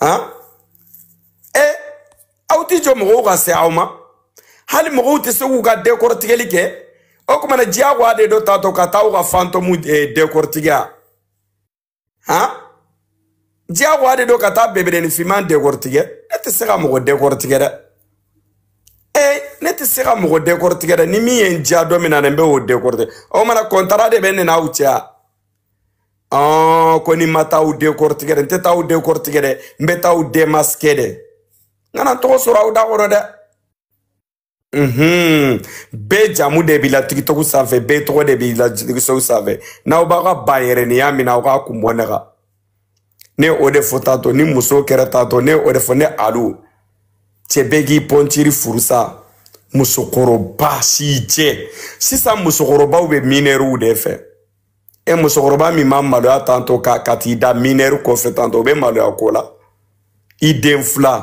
han e aw tɛ jɔ mɔgɔw ka se aw ma hali mɔgɔw tɛ se k'u ka dɛkɔrɔtigɛli kɛ o tuma na diyagoya de don tantɔ ka taa u ka fantɔmu dɛkɔrɔtigɛ han diyagoya de don ka taa beberenin finman dɛkɔrɔtigɛ ne tɛ se ka mɔgɔ dɛkɔrɔtigɛ dɛ e ne tɛ se ka mɔgɔ dɛkɔrɔtigɛ dɛ ni min ye n diya don min na ne bɛ o dɛkɔrɔtigɛ o mana kɔntara de bɛ ne n'aw cɛ ɔn ko ni ma taa u dɛkɔrɔtigɛ dɛ n tɛ taa u dɛkɔrɔtigɛ dɛ n bɛ taa u demasike dɛ n kana tɔgɔ sɔrɔ aw da kɔrɔ dɛ Mhm. bɛɛ jamu de b'i la tikitɔku sanfɛ bɛɛ tɔgɔ de b'i la tikitɔku sanfɛ n'aw b'aw ka bayɛrɛniya min na aw k'a kun bɔ ne kan ne o de fɔ tantɔ ni muso kɛra tantɔ ne o de fɔ ne alu cɛ bɛɛ k'i pɔntiri furusa musokɔrɔba si jɛ sisan musokɔrɔbaw bɛ minɛriw de fɛ e musokɔrɔba min ma maloya tantɔ ka ka t'i da minɛri kɔfɛ tantɔ o bɛ maloya ko la i den filan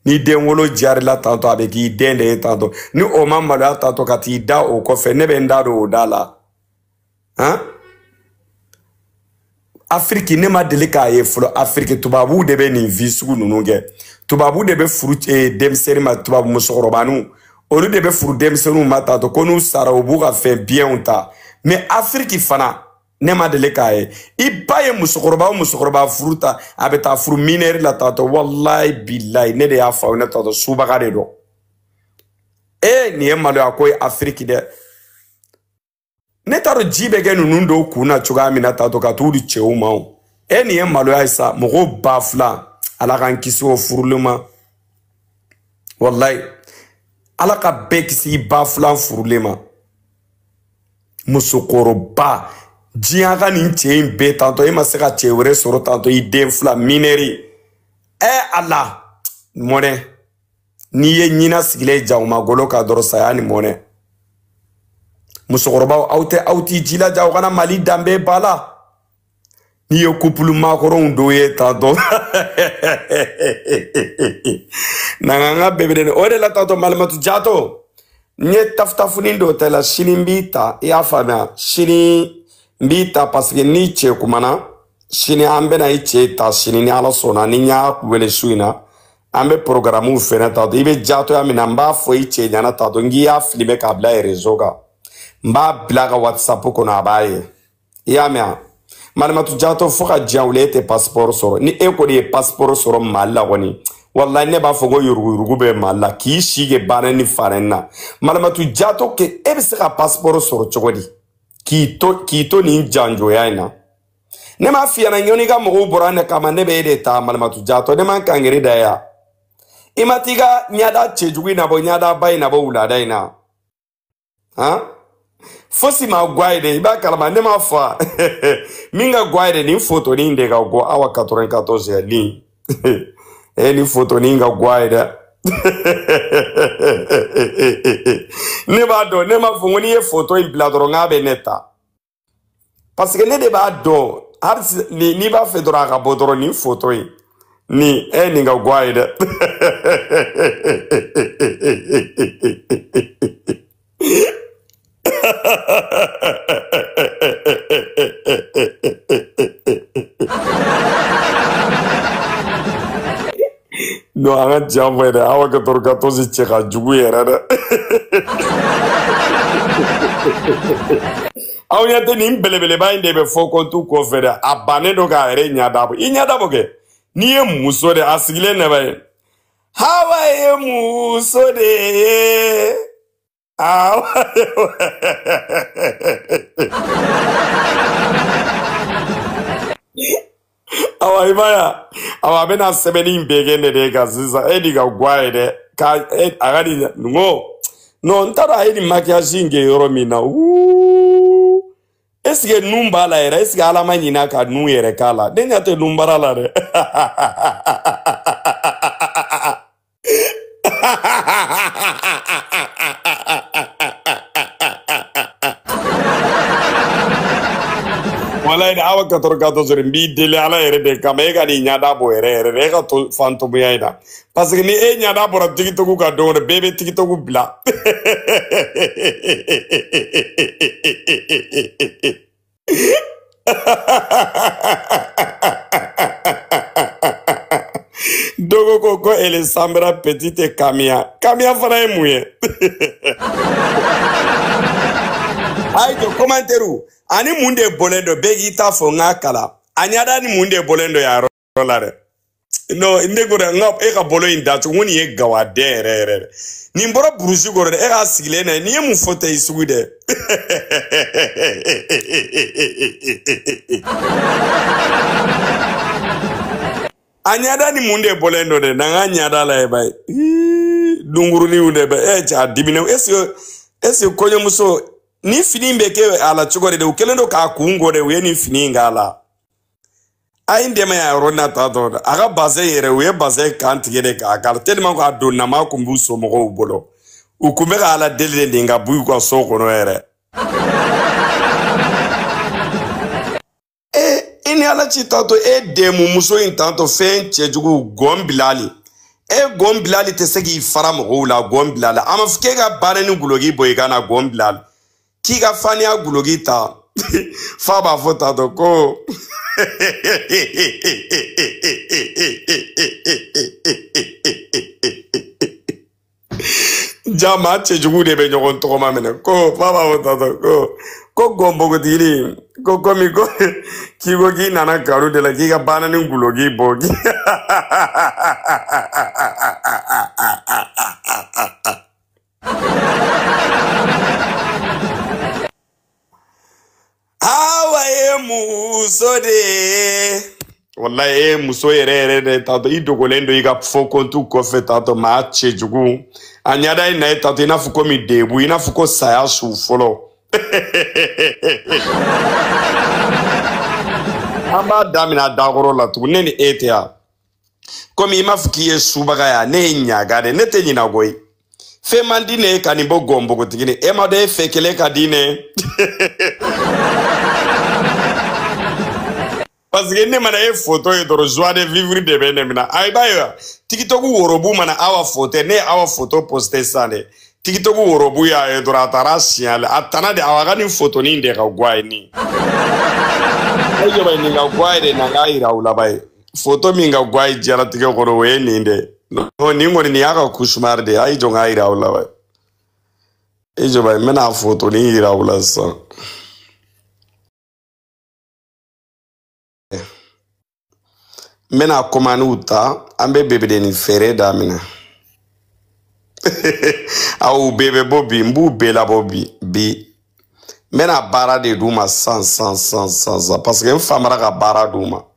n'i den wolo jarila tantɔ a bɛ k'i den de ye tantɔ ni o ma maloya tantɔ ka t'i da o kɔfɛ ne bɛ n da don o da la han afiriki ne ma deli k'a ye fɔlɔ afiriki tubabuw de bɛ nin vi sugu ninnu kɛ tubabu de bɛ furu eh, denmisɛnnin ma tubabu musokɔrɔbaniw olu de bɛ furu denmisɛnninw ma tantɔ ko n'u sara u b'u ka fɛn biyɛnw ta mɛ afiriki fana ne ma deli k'a ye i b'a ye musokɔrɔba o musokɔrɔba furu ta a bɛ taa furu minɛri la tantɔ walayi bilayi ne de y'a fɔ aw ɲɛ tantɔ subaga de don ee nin ye maloya ko ye afiriki dɛ ne t'a dɔn ji bɛ kɛ ninnu dɔw kun na cogoya min na tantɔ ka t'u di cɛw ma o e nin ye maloya ye sa mɔgɔ ba filan ala k'an kisi o furulen ma walayi ala ka bɛɛ kisi i ba filan furulen ma musokɔrɔba diɲɛ ka nin cɛ in bɛɛ tantɔ e ma se ka cɛ wɛrɛ sɔrɔ tantɔ i den filan minɛri ɛ ala mɔnɛ n'i ye ɲina sigilen ye jakuma golo kan dɔrɔn saya ni mɔnɛ musokɔrɔbaw aw tɛ aw t'i jilaja aw kana mali danbe b'a la n'i ye kupulu makɔrɔnw dɔw ye tantɔ n'an ka bebere o de la tantɔ malimatu jato n ye tafutafunin dɔ ta la sini n b'i ta i y'a faamuya sini n b'i ta paseke n'i cɛ kumana sini an bɛna i cɛ ta sini ni ala sɔnna ni n y'a wele su in na an bɛ porogaramuw fɛnɛ tantɔ i bɛ jatoya min na n b'a fɔ i cɛ ɲɛ na tantɔ n k'i y'a filime k'a bila rezo kan n b'a bila a ka whatsapp kɔnɔ a b'a ye i y'a mɛn a malimatu jato fo ka diɲɛ wuli e tɛ pasipɔri sɔrɔ ni e kɔni ye pasipɔri sɔrɔ mali la kɔni walayi ne b'a fɔ ko yuruguyurugu bɛ mali la k'i si kɛ baara ni fara na malimatu jato kɛ e bɛ se ka pasipɔri sɔrɔ cogo di k'i to k'i to nin janjoya in na ne m'a f'i ɲɛna ɲɔni ka mɔgɔw bɔra ne kama ne bɛ e de ta malimatu jatɔ ne man kangere da ya i ma t'i ka ɲada cɛjugu in nabɔ ɲadaba in nabɔ wulada in na han fosi man go a ye dɛ i b'a kalama ne m'a fɔ a min ka go a ye dɛ nin fotonin de ka go awa 14 nin ye nin fotonin ka go a ye dɛ ne b'a dɔn ne m'a fɔ ko n'i ye foto in bila dɔrɔn k'a bɛ ne ta parce que ne de b'a dɔn hali n'i b'a fɛ dɔrɔn a ka bɔ dɔrɔn nin foto in nin e nin ka go a ye dɛ non an ka tiɲɛ fɔ ye dɛ awa katɔrɔ 14 cɛ ka jugu yɛrɛ dɛ aw ɲɛ tɛ nin belebeleba in de bɛ faux compte kɔfɛ dɛ a bannen don k'a yɛrɛ ɲada bɔ i ɲada bɔ kɛ n'i ye muso de a sigilen nɛbɛ ye hawa ye muso de ye Ah, awa i b'a ye awa a bɛna sɛbɛnni in bɛɛ kɛ ne de kan sisan e de ka go a ye dɛ ka e a ka nin n ko non n t'a dɔn a ye nin maquillage in kɛ yɔrɔ min na wuu est-ce que nun b'a la yɛrɛ est-ce que ala ma ɲina ka nun yɛrɛ k'a la ne ɲɛ tɛ nun baara la dɛ walayi ni awa 14 n b'i deli ala yɛrɛ de kama e kan'i ɲada bɔ yɛrɛ yɛrɛ dɛ e ka to fantomuya in na parce que ni e ɲada bɔra TikTok kan dɔrɔn bɛɛ bɛ TikTok bila dogo ko ko elle ressemble à petite kamiya kamiya fana ye mun ye a ye to commentaire a ni mun de bɔlen don bɛɛ k'i ta fɔ n k'a kalan a ɲada ni mun de bɔlen don yan yɔrɔ yɔrɔ la dɛ non ne ko dɛ nka e ka bolo in dacogo n ko nin ye gawaden yɛrɛ yɛrɛ dɛ nin bɔra burusi kɔnɔ dɛ e k'a sigilen na nin ye mun foto sugu dɛ a ɲɛda ni mun de bɔlen don dɛ n'an k'a ɲɛda lajɛ ba ye dunkuruniw de bɛ e ja dimine est-ce est-ce kɔɲɔmuso nin fini bɛ kɛ a la cogo de dɛ u kɛlen don k'a kun kɔ dɛ u ye nin fini in k'a la a ye n dɛmɛ yan yɔrɔ na tatɔ a ka bazɛn yɛrɛ u ye bazɛn kan tigɛ de k'a kala tellement ko a don nama kun b'u somɔgɔw bolo u kun bɛ ka ala deli de nin ka b'u ka so kɔnɔ yɛrɛ ee i ni ala cɛ tatɔ e dɛmu muso in tatɔ fɛn cɛjugu gɔn bilali e gɔn bilali tɛ se k'i fara mɔgɔw la gɔn bilali a ma fɔ k'e ka baana ni guloki bɔ i kan na gɔn bilali k'i ka faniya guloki ta fa b'a fɔ tatɔ ko ja maa cɛjugu de bɛ ɲɔgɔn tɔgɔma minɛ ko fa b'a fɔ tatɔ ko ko gɔn npogotigini ko komi ko k'i ko k'i nana garu de la k'i ka baana ni guloki bɔ awa ye muso de ye walayi e muso yɛrɛ yɛrɛ de tatɔ i dogolen don i ka faux compte kɔfɛ tatɔ maa cɛ jugu a ɲada i n'a ye tatɔ i n'a fɔ komi debu i n'a fɔ ko saya su fɔlɔ an b'a daminɛ a dakɔrɔ la tugun ne ni e tɛ yan komi i m'a fɔ k'i ye subagaya ne ye ɲagan de ne tɛ ɲina koyi fɛn man di ne ye ka nin bɔ gɔn npogotigini e m'a dɔn e fɛn kelen ka di ne parce que ne mana e foto ye dɔrɔn joie de vivre de bɛ ne minɛ a ah, i b'a ye wa tikitɔku worobu mana awa foto ne ye awa foto poste sisan de tikitɔku worobu y'a ye dɔrɔn a taara a siɲɛ la a tana de awa ka nin fotonin de ka go a ye nin i jɔ ba nin ka go a ye de na k'a yira aw la ban ye foto min ka go a ye diɲɛlatigɛ kɔnɔ o ye nin de nin kɔni nin y'a ka cauchemar de ye a y'i jɔ n k'a yira aw la wa i jɔ ba n bɛna foto nin yira aw la sisan n bɛna kɔmaniw ta an bɛ bebedenin feere daminɛ aw bɛɛ bɛ bɔ bi n b'u bɛɛ labɔ bi bi n bɛna baara de d'u ma san san san san san paseke n famara ka baara d'u ma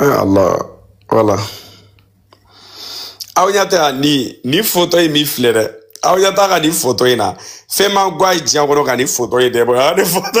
Ah, Allah voilà aw ɲɛ tɛ yan nin nin foto in min filɛ dɛ aw ɲɛ t'a ka nin foto in na fɛn man go a ye diɲɛ kɔnɔ ka nin foto in dɛ bɔ yan ni foto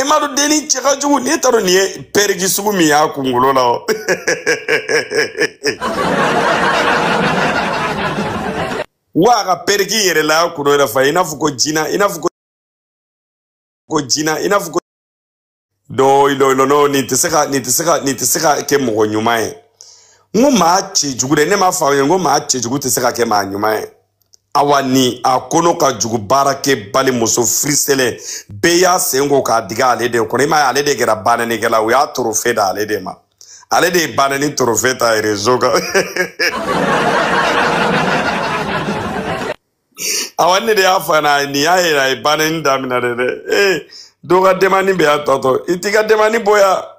i m'a dɔn denni cɛ ka jugu n'i taara nin ye pɛriki sugu min y'a kunkolo la o wa a ka pɛriki yɛrɛ la y'a kunkolo yɛrɛ fa i n'a fɔ ko jina i n'a fɔ ko jina i n'a fɔ ko dɔɔ ilɔ ilɔ n'o nin tɛ se ka nin tɛ se ka nin tɛ se ka kɛ mɔgɔ ɲuman ye n ko maa cɛ jugu dɛ ne m'a fɔ aw ye n ko maa cɛ jugu tɛ se ka kɛ maa ɲuman ye awa ni a kɔnɔ ka jugu baarakɛbali muso firiselen bɛɛ y'a sen ko k'a digi ale de kɔnɔ i m'a ye ale de kɛra banɛnikɛla u y'a torofe da ale de ma ale de ye banɛni torofe ta rezo kan awa nin de y'a fana nin y'a yira a ye banɛni daminɛ de dɛ ee dɔ ka demani bɛ y'a tɔtɔ i t'i ka demani boya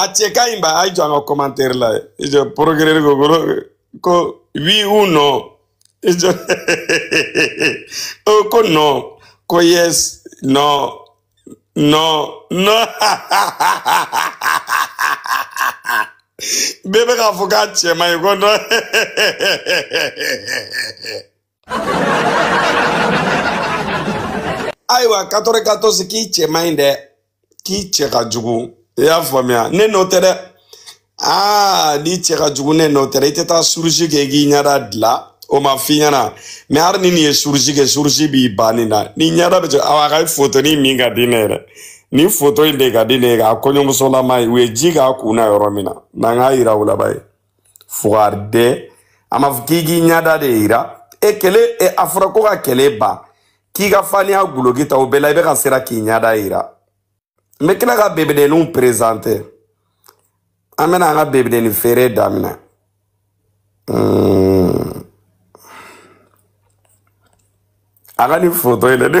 a cɛ ka ɲi ba a ye jɔ an ka commentaire la i jɔ porogere ko kolo ko oui ou non i jɔ oh, ko non ko yes non non non bɛɛ bɛ k'a fɔ k'a cɛ man ɲi ko non ayiwa katɔrɔ katɔsi k'i cɛ man ɲi dɛ k'i cɛ ka jugu i y'a faamuya ne n'o tɛ dɛ aa n'i cɛ ka jugu ne n'o tɛ dɛ i tɛ taa chirurgie kɛ k'i ɲɛda dila o ma f'i ɲɛna mɛ hali ni nin ye chirurgie kɛ chirurgie b'i ban nin na ni ɲɛda bɛ cɛ awa a ka fotoni min ka di ne yɛrɛ nin foto in de ka di ne ye k'a kɔɲɔmusolama ye u ye ji k'a kun na yɔrɔ min na n'an k'a yira u la ba ye fugariden a ma fɔ k'i k'i ɲɛda de yira e kele e, a fɔra ko ka kɛlɛ ban k'i ka faniya guloki ta o bɛɛ la i bɛ ka siran k'i ɲɛda yira n bɛ tila ka bebedenninw perezante an bɛna an ka bebedennin feere daminɛ hmm. a ka nin foto in dɛ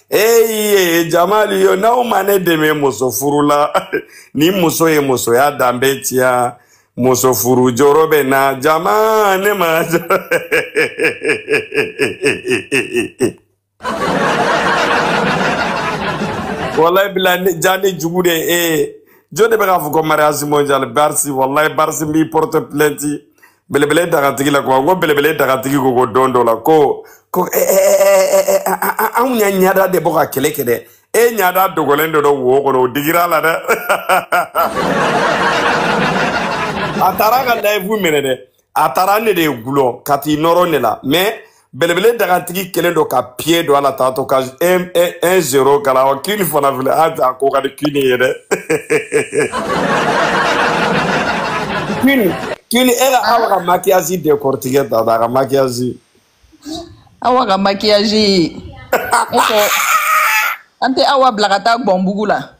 ee jamalu yo n'aw ma ne dɛmɛ muso furu la ni muso ye musoya danbe tiɲɛ muso furu jɔrɔ bɛ na jama ne ma walayi bila ja ne jugu de e jɔn de bɛ k'a fɔ ko mariage mondial barsi walayi barsi n b'i porte plainte belebele dagatigi la kuma ko belebele dagatigi ko ko don dɔ la ko ko eh, eh, eh, anw y'an ɲada de bɔ ka kɛlɛ kɛ dɛ e ɲada dogolen don dɔ wo kɔnɔ o digira a la dɛ a taara ka layifu minɛ dɛ a taara ne de ye gulɔ ka t'i nɔrɔ ne la mɛ belebele dagatigi kelen don ka piye don a la tantɔ ka 1-0 k'a la wa kini fana filɛ a ta ko ka di kini ye dɛ kini kini e ka awa ka makiyazi décortiquer ta ta a ka makiyazi awa ka makiyazi an tɛ awa bila ka taa gbɔnbugu la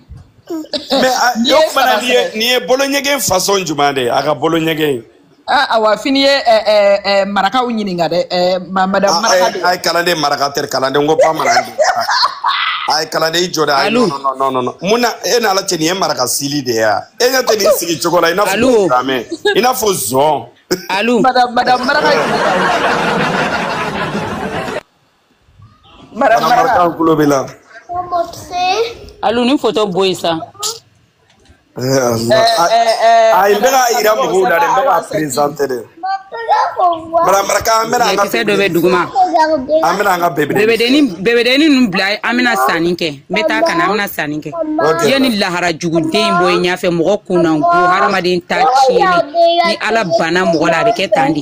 mɛ N'i o ye kumana saba n'i ye sɛbɛ. nin ye bolo ɲɛgɛn fasɔn jumɛn de ye a ka bolo ɲɛgɛn ye Ah, awa fini ye ɛ, ɛ, ɛ, marakaw ɲininka dɛ ɛ, ma- madame a maraka ye de a ye kalanden maraka tɛ kalanden ko bamanan de a ye kalanden i jɔ de a ye Alu. non, non, non, non, non. mun na e n'a la cɛ nin ye maraka style de ye a e ɲɛ tɛ nin sigi cogo la i n'a fɔ Alu. gamɛ i n'a fɔ zɔn alu madame madame maraka ɲininka Marakaw tulo b'i la. Alu nin foto bɔ yen sa. Ayi n bɛ k'a jira mɔgɔw la dɛ n bɛ k'a perezante de. Maraka an bɛna an ka kisɛ dɔ bɛ duguma. An bɛna an ka bebedeni. Bebedeni bebedeni ninnu bila an bɛna sanni kɛ n bɛ taa ka na an bɛna sanni kɛ. Yanni lahara juguden in bɔ i ɲɛfɛ mɔgɔ kunna ko haramuden ta tiɲɛni ni Ala banna mɔgɔ la a bɛ kɛ tan de.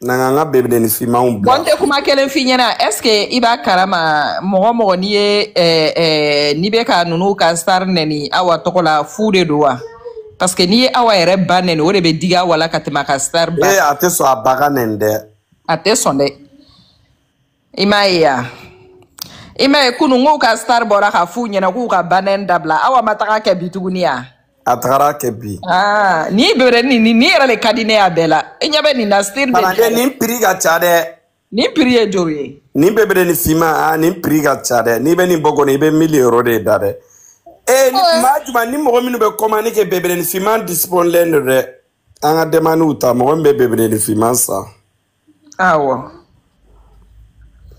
na n'an ka bebedeni finmanw bɔn bila n tɛ kuma kelen f'i ɲɛna est ce que i b'a kalama mɔgɔ mɔgɔ n'i ye eh, eh, n'i bɛ ka ninnu ka star nɛni awa tɔgɔ la fu de don wa parce que n'i ye awa yɛrɛ ba nɛni o de bɛ digi awa la ka tɛmɛ a ka star ba ee kan a tɛ sɔn a ba ka nɛni dɛ a tɛ sɔn dɛ i m'a ye ya i m'a ye kunu k'u ka star bɔra ka f'u ɲɛna k'u ka ba nɛni dabila awa ma taga kɛ bi tuguni ya a tagara kɛ bi ah, nin bebedeni nin yɛrɛ le ka di ne y'a bɛɛ la i ɲɛ bɛ nin na style de nin piri ka ca dɛ nin piri ye joli ye nin bebedeni finman ah, nin piri ka ca dɛ n'i bɛ nin bɔ kɔni i bɛ mili ero de da dɛ ee maa juma ni mɔgɔ minnu bɛ kɔmani kɛ bebedeni finman disipɔnlen don dɛ an ka dɛmaniw ta mɔgɔ min bɛ bebedeni finman san awɔ.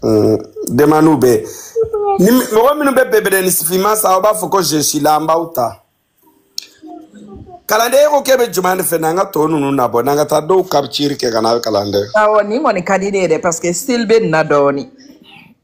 Mm, demaniw bɛ ni mɔgɔ minnu bɛ bebedeni sifinma san aw b'a fɔ ko je suis là an b'aw ta kalanden e ko k'e bɛ jumɛn de fɛ n'an ka tɔ ninnu nabɔ n'an ka taa dɔw kapitiri kɛ ka na kalanden. awɔ nin kɔni ka di ne ye dɛ parce que style bɛ nin na dɔɔnin.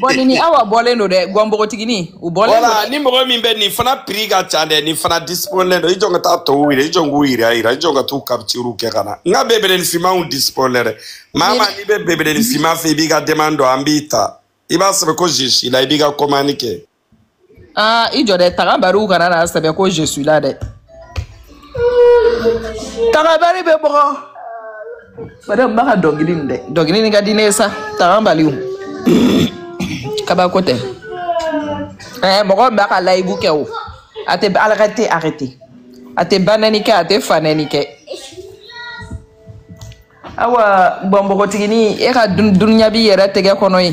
bɔn nin ni awa bɔlen don dɛ gɔn npogotigini u bɔlen don wala ni mɔgɔ min bɛ nin fana piri ka ca dɛ nin fana disipɔnlɛ don i jɔ n ka taa tɔw yira i jɔ n k'u yira yira i jɔ n ka t'u kapitiri kɛ ka na n ka bebedenin finmanw disipɔnlɛ dɛ maa maa n'i bɛ bebedenin finman fɛ i b'i ka dɛmani don an b'i ta i b'a sɛbɛn ko je suis là i b'i ka kɔmani kɛ aa i jɔ dɛ tagabaliw kana n'a sɛbɛn ko je suis là dɛ tagabali bɛ bɔgɔ bari n b'a ka dɔnkili nin dɛ dɔnkili nin ka di ne ye sa tagabaliw kabako tɛ ɛɛ mɔgɔ min b'a ka layibu kɛ o a tɛ ala k'a tɛ arrêté a tɛ ba nɛni kɛ a tɛ fa nɛni kɛ awa bɔn npogotigini e ka dun- dunuya b'i yɛrɛ tɛgɛ kɔnɔ ye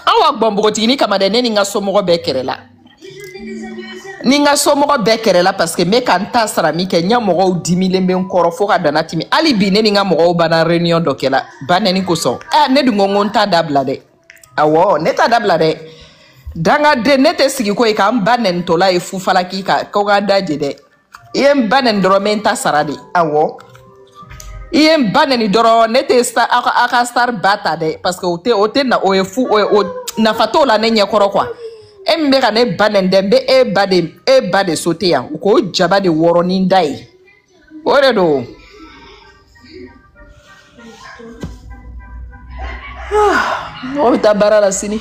awa bon npogotigini kama dɛ ne ni n ka somɔgɔ bɛɛ kɛrɛla ni n ka somɔgɔ bɛɛ kɛrɛla paseke n bɛ ka n ta sara min kɛ n ɲɛ mɔgɔw dimilen bɛ n kɔrɔ fo ka dana timi hali bi ne ni n ka mɔgɔw banna réunion dɔ kɛla ba nɛni kosɔn ɛ ne dun ko n ko n t'a dabila dɛ awɔ ne t'a dabila dɛ dangaden ne tɛ sigi ko ye k'an ba nɛnitɔla ye fufalaki ka ko ka da je dɛ i ye n ba nɛni dɔrɔn n bɛ n ta sara de awɔ i ye n ba nɛni dɔrɔn ne tɛ star aw ka aw ka star ba ta dɛ parce que o tɛ o tɛ na o ye fu o ye o nafa t'o la ne ɲɛkɔrɔ quoi e min bɛ ka ne ba nɛni dɛ n bɛ e ba de e ba de sote yan u k'o jaba de wɔrɔ ni n da ye o de don. mɔgɔ bɛ taa baara la sini.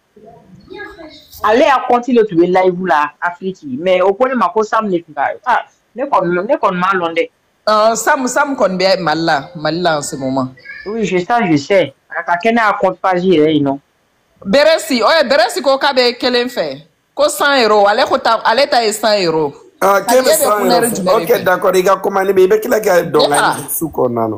ale ya kɔnti le tun bɛ layibu la afiriki mɛ o ko ne ma ko sam ne tun ka ah, ne kɔni ne kɔni m'a lɔn dɛ. Uh, sam sam kɔni bɛ mali la mali la en ce moment. oui je sais je sais a ka kɛ ne y'a compte page yɛrɛ ye non. beresi ɔyɛ beresi ko k'a bɛ kelen fɛ ko cent euro ale ko ta ale ta ye cent euro. ah k'e bɛ cent euro ok d'accord i ka commande bɛ i bɛ tila ka dɔn ka su kɔnɔna na.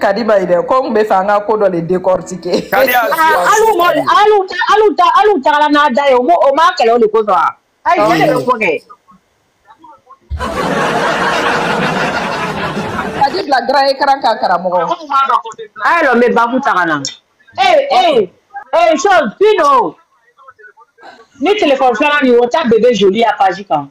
kadi ba ye dɛ ko n b'a fɛ an ka ko dɔ le décortiquer Kadi y'a suya Ah, alu mɔ alu ta alu ta alu tagala n'a da ye o m'o- o m'a kɛlɛ o le kosɔn a ayi cɛ de bɛ ko kɛ kadi bila grand écran kan karamɔgɔ a ye lɔ n bɛ babu ta ka na ee ee ee chose pino ni telefɔni filanan nin o ta bebe joli ya page kan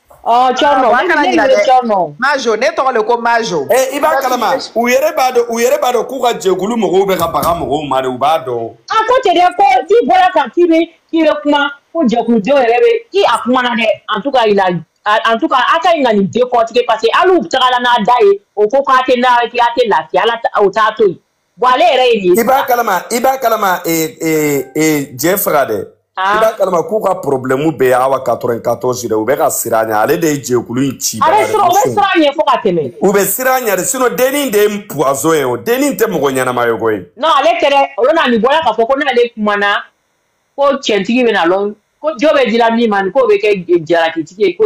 Oh, Tcherno, ah, ne yɛrɛ Tcherno. Majo, ne tɔgɔ le ko Majo. Eh, i b'a kalama. U yɛrɛ b'a dɔn, u yɛrɛ b'a dɔn k'u ka jɛkulu mɔgɔw bɛ ka baga mɔgɔw ma de, u b'a dɔn. A ko ten dɛ, ko k'i bɔra kan k'i bɛ k'i bɛ kuma, ko jɛkuludenw yɛrɛ bɛ, k'i a kumana dɛ, en tout cas il a en tout cas a ka ɲi ka nin décortiquer parce que alu tagala n'a da ye, o ko k'a tɛ n'a k'a tɛ lafiya, ala o t'a to yen. bɔn ale yɛrɛ ye nin ye. i b'a kalama i b'a kalama ee ee ee jɛ faga dɛ. Ah. i b'a kalama k'u ka porobilɛmu bɛɛ ye awa quatre-vingt-quatorze dɛ u bɛ ka siran a ɲɛ ale de ye jɛkulu in ci. a bɛ siran u bɛ siran a ɲɛ fo ka tɛmɛ. u bɛ siran a ɲɛ de sinɔn dennin de ye puwazɔn ye o dennin tɛ mɔgɔ ɲɛnama ye koyi. non ale tɛ dɛ o lon na nin bɔla k'a fɔ ko n'ale kumana ko cɛntigi bɛ na lɔn ko jo bɛ dila min ma nin k'o bɛ kɛ jalakitigi ye ko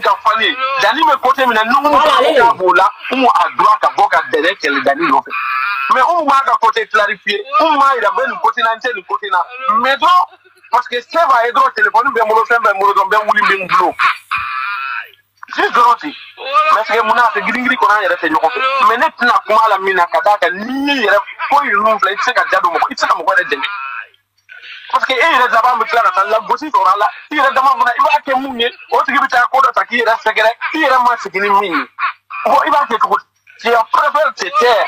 ka fali danni bɛ kote min na n'u ka b'o la umu a droit ka bɔ ka dɛrɛ kɛlɛ danni nɔfɛ mɛ umu b'a ka kote clarifiye umu b'a yira n bɛ nin kote na n tɛ nin kote na mɛ dɔrɔn parce que se b'a ye dɔrɔn telefɔni bɛ n bolo fɛn bɛ n bolo dɔrɔn bɛ wuli bɛ n bolo si dɔrɔn ten mɛ sɛgɛ mun na a tɛ giringiri kɔnɔ an yɛrɛ tɛ ɲɔgɔn fɛ mɛ ne tɛna kuma la min na ka d'a kan n'i y'i yɛrɛ foyi ninnu filɛ i tɛ se ka da don mɔgɔ i tɛ se ka mɔgɔ yɛrɛ dɛmɛ parce que e yɛrɛ dama bɛ tila ka taa lagosi sɔrɔ a la i yɛrɛ dama fana i b'a kɛ mun ye o tigi bɛ taa ko dɔ ta k'i yɛrɛ sɛgɛrɛ i yɛrɛ ma sigi ni min ye bon i b'a kɛ cogo di tu préfères te taire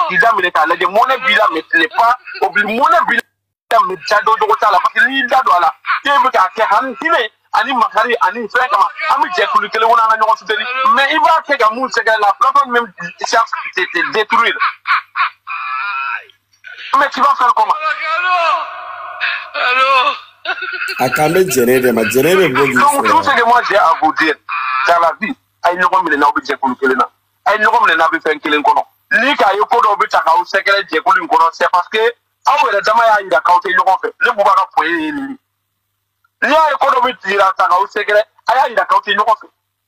k'i da minɛ k'a lajɛ mɔnɛ b'i la mais tu n'es pas obligé mɔnɛ b'i la mais i da don yɔrɔ t'a la parce que n'i y'i da don a la e bɛ k'a kɛ hami hinɛ ani makari ani fɛn kama an bɛ jɛkulu kelen kɔnɔ an ka ɲɔgɔn soutenir mais i b'a kɛ ka mun sɛgɛrɛ la plateforme même cherche te détruire Mais tu vas faire comment a kan bɛ jɛnɛ de ma jɛnɛ bɛ bɔ k'i Donc tout ce que moi j'ai à vous dire, dans la vie, a ye ɲɔgɔn minɛ n'aw bɛ jɛkulu kelen na, a ye ɲɔgɔn minɛ n'aw bɛ fɛn kelen kɔnɔ. N'i k'a ye ko dɔw bɛ taa k'aw sɛgɛrɛ jɛkulu in kɔnɔ, c'est parce que aw yɛrɛ dama y'a jira k'aw tɛ ɲɔgɔn fɛ. Ne Buba ka point ye nin ye. N'i y'a ye ko dɔw bɛ taa k'aw sɛgɛrɛ, a y'a jira k'aw tɛ ɲɔgɔn fɛ.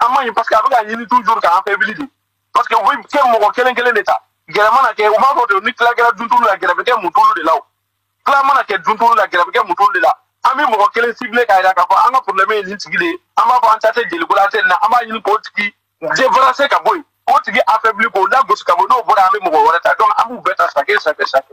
an man ɲi parce que a bɛ k'a ɲini toujours k'an affaibli de parce que u bɛ ka mɔgɔ kelen kelen de ta gɛrɛ mana kɛ u b'a fɔ ten ni tila kɛra duntulu la gɛrɛ bɛ kɛ mutulu de la o tila mana kɛ duntulu la gɛrɛ bɛ kɛ mutulu de la an bɛ mɔgɔ kelen ciblé k'a jira k'a fɔ an ka problème ye nin tigi de ye an b'a fɔ an ta tɛ jeliko la an tɛ nin na an b'a ɲini k'o tigi débarrasser ka bɔ yen k'o tigi affaibli k'o lagosi ka bɔ n'o bɔra an bɛ mɔgɔ wɛrɛ ta donc an b'u bɛɛ ta chaque chaque chaque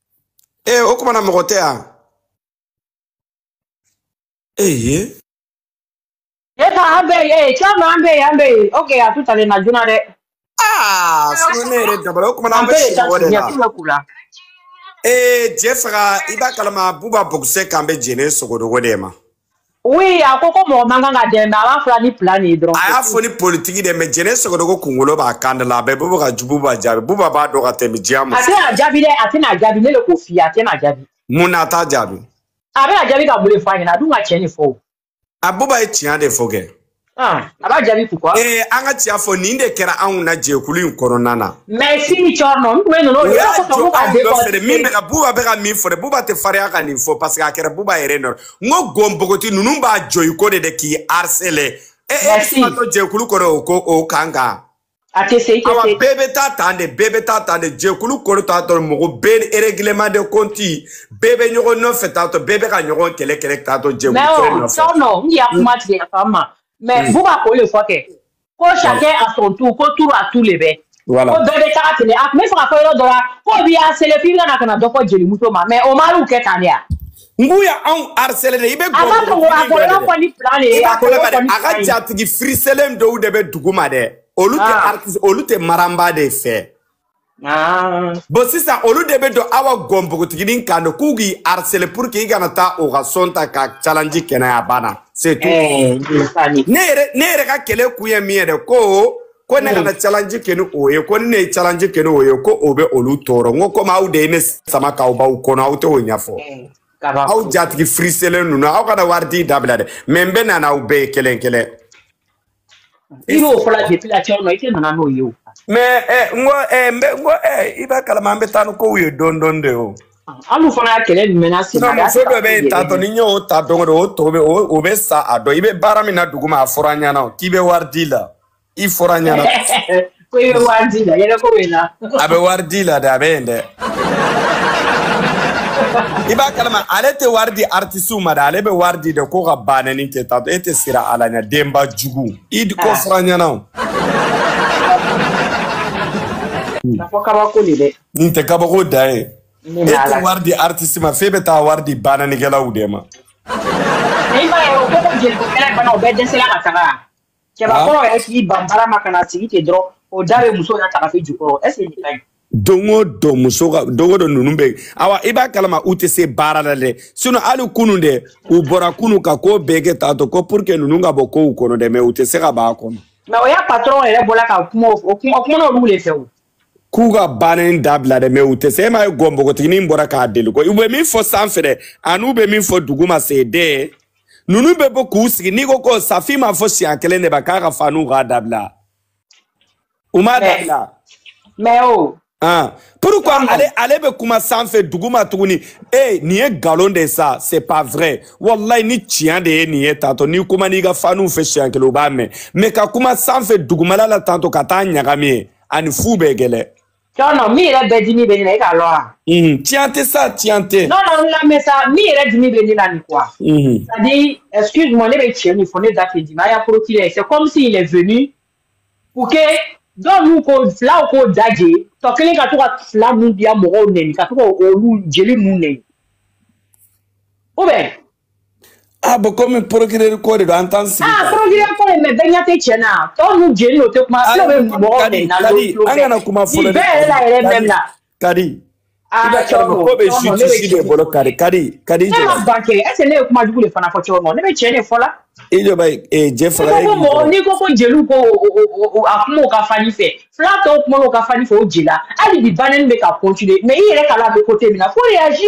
e o kuma na mɔgɔ tɛ yan eye e ka an bɛ ye e cɛn an bɛ ye an bɛ ye ok a tun taalen na joona dɛ aa sinɔ ne yɛrɛ dabara o kuma na an bɛ si mɔgɔ de la ee cɛ fara i b'a kalama buba bɔgusɛ kan bɛ jɛnɛ sogodogo de ma Oui, a ko ko mɔgɔ man kan ka dɛmɛ a b'a fɔ la ni plan de ye dɔrɔn. A y'a fɔ ni politiki dɛ mais jɛnɛ sogodogo kunkolo b'a kan da la a bɛ buba ka ju buba jaabi buba b'a dɔn ka tɛmɛ jama. A tɛna jaabi dɛ a tɛna jaabi ne de k'o f'i ye a tɛna jaabi. mun na a t'a jaabi. a bɛna jaabi ka mun de fɔ a ɲɛna a dun ka tiɲɛ de fɔ o. a buba ye tiɲɛ de fɔ kɛ. Ah, a b'a jaabi pourquoi ee eh, an ka tiɲɛ fɔ nin de kɛra anw na jɛkulu in kɔnɔna na mais sini cɛrinɔ n tun bɛ ninnu o y'a jɔ anw dɔ fɛnɛ min bɛ ka buba bɛ ka min fɔ dɛ buba tɛ fariya ka nin fɔ parce que a kɛra buba yɛrɛ nɔ n ko gɔn npogoti ninnu b'a jɔ i kɔ de dɛ k'i harceler e e fatɔ jɛkulu kɔnɔ o ko o kan kan a tɛ se i tɛ se awa bɛɛ bɛ taa tan de bɛɛ bɛ taa tan de jɛkulu kɔnɔ t'a tɔ mɔgɔ bɛɛ ni règlement de compte bɛɛ bɛ ɲɔgɔn nɔfɛ t'a tɔ bɛɛ bɛ ka ɲɔgɔn kɛlɛ kɛlɛ t'a tɔ jɛkulu kɛlɛ nɔfɛ. mais cɛrinɔ n y'a kuma tigɛ yafa n ma mais buba k'o le fɔ kɛ ko chacun à son tour ko tour à tour le bɛ ko bɛɛ bɛ taga ten le a tun b'a fɛ k'a fɔ yɔrɔ dɔ la k'u b'i harceler f'i kana ka na dɔ fɔ jelimuso ma mais o mariw kɛ tan de ya ngu ya anw harcelé de i bɛ a ka jatigi firiselen dɔw de bɛ duguma dɛ olu tɛ ah. artiste olu tɛ maranba de fɛ ah. bon sisan olu de bɛ don awa gɔnbogotiginin kan de k'u k'i harceler pour que i kana taa o ka son ta ka challenge kɛ n'a ye a banna c'est tout eh, ne yɛrɛ ne yɛrɛ ka kɛlɛ kun ye min ye dɛ ko ko ne kana challenge kɛ ni o ye ko ni ne ye challenge kɛ ni o ye ko o bɛ olu tɔɔrɔ n ko komi aw de ye ne sama k'aw b'aw kɔnɔ aw tɛ o ɲɛfɔ aw jatigi firiselen ninnu aw kana wari di dabila dɛ mɛ n bɛ na n'aw bɛɛ ye kelen kelen. i b'o fɔla depuis là Cɛrinɔ i tɛna na n'o ye o. mɛ ɛ n ko ɛ n bɛ n ko ɛ i b'a kalama an bɛ taa ni kow ye dɔɔni dɔɔni de o. hali fana y'a kɛlɛ menacer na. muso dɔ bɛ yen tantɔ ni n y'o ta don o don o tɔ bɛ o bɛ sa a dɔn i bɛ baara min na duguma a fɔra an ɲɛna k'i bɛ wari di la. i fɔra an ɲɛna ko i bɛ wari di la yɛrɛ ko bɛ na a bɛ wari di la dɛ a bɛ yen dɛ i b'a kalama ale tɛ wari di artisiw ma dɛ ale bɛ wari di dɛ ko ka banɛni kɛ tantɔ e tɛ sira ala ɲɛ denba jugu i ko fɔra an ɲɛna o nafa kabako de dɛ nin tɛ kabako dan ye e tɛ wari di artisi ma f'e bɛ taa wari di banɛnikɛlaw de ma i b'a ye o ko ko jelikokɛla bana o bɛɛ dɛsɛla ka taga cɛbakɔrɔ yɛrɛ k'i ban baara ma ka na sigi ten dɔrɔn o da bɛ muso yɛrɛ taafe jukɔrɔ est ce que nin ka ɲi don o don muso ka don o don ninnu bɛ yen awa i b'a kalama u tɛ se baara la dɛ sinɔn hali kunu dɛ u bɔra kunu ka ko bɛɛ kɛ tantɔ ko pour que ninnu ka bɔ kow kɔnɔ dɛ mɛ u tɛ se ka b'a kɔnɔ. mɛ o ya patɔrɔn yɛrɛ bɔra ka kuma o kuma kuma n'olu de fɛ o. k'u ka baara in dabila dɛ mɛ u tɛ se e ma ye gɔ npogotiginin bɔra k'a deli ko u bɛ min fɔ sanfɛ dɛ an'u bɛ min fɔ dugu ma se den ninnu bɛ bɔ k'u sigi n'i ko ko Safi m'a fɔ siɲɛ kelen de ba k'a ka faniw k'a dabila u m'a dabila mɛ o ah pourquoi ale ale bɛ kuma sanfɛ dugu ma tuguni e nin ye nkalon de ye sa c'est pas vrai walayi ni tiɲɛ de ye nin ye tantɔ n'i kuma n'i ka faniw fɛ siɲɛ kelen u b'a mɛn mɛ ka kuma sanfɛ dugumala la tantɔ ka taa ɲagami ye ani fu bɛɛ kelen non non min yɛrɛ bɛ dimi bɛ ne la e k'a lɔn wa Mhm, tiɲɛ tɛ sa tiɲɛ tɛ non non n lamɛn sa min yɛrɛ dimi bɛ ne la nin quoi Mhm, c'est à dire excuse moi ne bɛ tiɲɛ min fɔ ne da tɛ dimi a ya procureur c'est comme s'il est venu pour que dɔw n'u ko filaw k'o daje tɔ kelen ka to ka fila ninnu bila mɔgɔw nɛni ka to ka olu jeli ninnu nɛni ou bien a bɛ komi porokireri ko de don an t'an sigi. aa porokireri ko de mɛ bɛɛ ɲɛ tɛ tiɲɛ na tɔw ninnu jeliw o tɛ kuma fulaw bɛ mɔgɔw nɛni na o tulo fɛ an kana kuma fɔlɔ nin bɛɛ yɛrɛ la yɛrɛ mɛm na. kadi i b'a kalama ko bɛ justice de bolo kadi kadi kadi jɔ. ne ma ban kɛ est ce ne ye kuma jugu de fana fɔ Cɛrinɔ ne bɛ tiɲɛ de fɔ la. i jɔ bɛ ee jɛ fɔlɔ ye. mɔgɔ n'i ko ko jeliw ko a kuma u ka fani fɛ fila tɔw kuma u ka fani fɛ o jela hali bi bannen bɛ ka kɔntine mɛ i yɛrɛ ka la bɛ kote min na ko reyazi.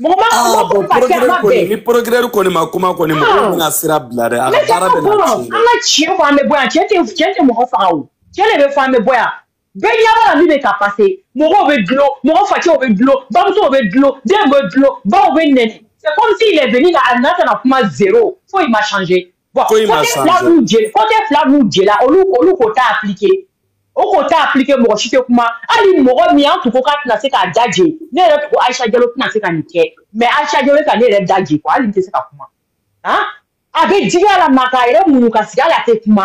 mɔgɔ ma ah, mɔgɔ ko ka kɛ a ma bɛn ni porokireri kɔni ma kuma kɔni mɔgɔ ah. bɛna sira bila dɛ a ka baara bɛ na tiɲɛ an ka tiɲɛ fɔ an bɛ bɔ yan tiɲɛ tɛ tiɲɛ tɛ mɔgɔ faga o tiɲɛ de bɛ fɔ an bɛ bɔ yan bɛɛ ɲɛ b'a la min bɛ ka pase mɔgɔw bɛ dulon mɔgɔ facɛw bɛ dulon bamusow bɛ dulon denw bɛ dulon baw bɛ nɛni c'est comme s'il est venu là a nana ka na kuma zéro foyi ma changer bɔn kote fila b'u jeli kote fila b'u cɛla olu olu k'u t'a aplike u k'u t'a aplike mɔgɔ si tɛ kuma hali mɔgɔ min an tun ko k'a tɛna se k'a da je ne yɛrɛ tun ko ayisa jalo tɛna se ka nin kɛ mɛ ayisa jalo ka ne yɛrɛ da je ko hali n tɛ se ka kuma han a bɛ digi a la m'a k'a yɛrɛ muɲu ka sigi hali a tɛ kuma